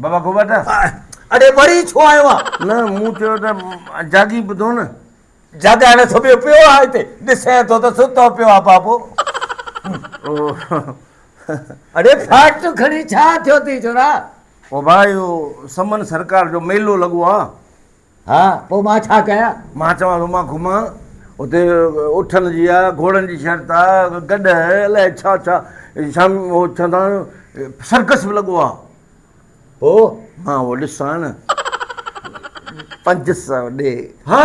بابا گوبا ته. اڙي وري ڇو آيو آن؟ نه مون چيو ته جاڳي ٻڌو نه. جاڳائڻ سمهيو پيو آ هتي. ڏسين ٿو ته ستو پيو آ بابو. اڙي فاٽ کڻي ڇا ٿيو ٿي ڇورا. او ڀاء اهو سمن سرڪار جو ميلو لڳو آ. ها، پوء مان ڇا ڪيان؟ مان چوان ٿو، مان گهمان اتي اٺن جي آ، گهوڙن جي شرط آ، گڏهه، الائي ڇا ڇا شام اهو چوندا آهن سرڪس به لڳو آ. پوء؟ مان اهو ڏسان نه. پنج سؤ ڏي. ها؟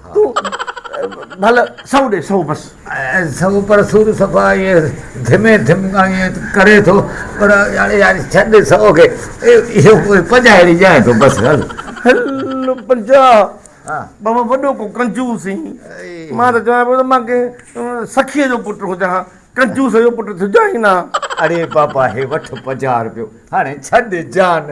تون ڀل سھو ڏي سھو بس. ۽ سھو پر سور صفا ائين ڌمي ڌم ائين ڪري ٿو پر يار يار ڇڏ سھو کي اھو پنجاھ ھيڙي ڄائين ٿو بس ھل. ھل پنجاھ بابا وڏو ڪو ڪنجوس ھين مان ته چوان پيو ته مان ڪنھن سخيء جو پٽ ھجان ھان ڪنجوس جو پٽ ٿجان ئي نه ھان. اڙي بابا ھي وٺ پنجاھ رپيو ھاڻي ڇڏ جان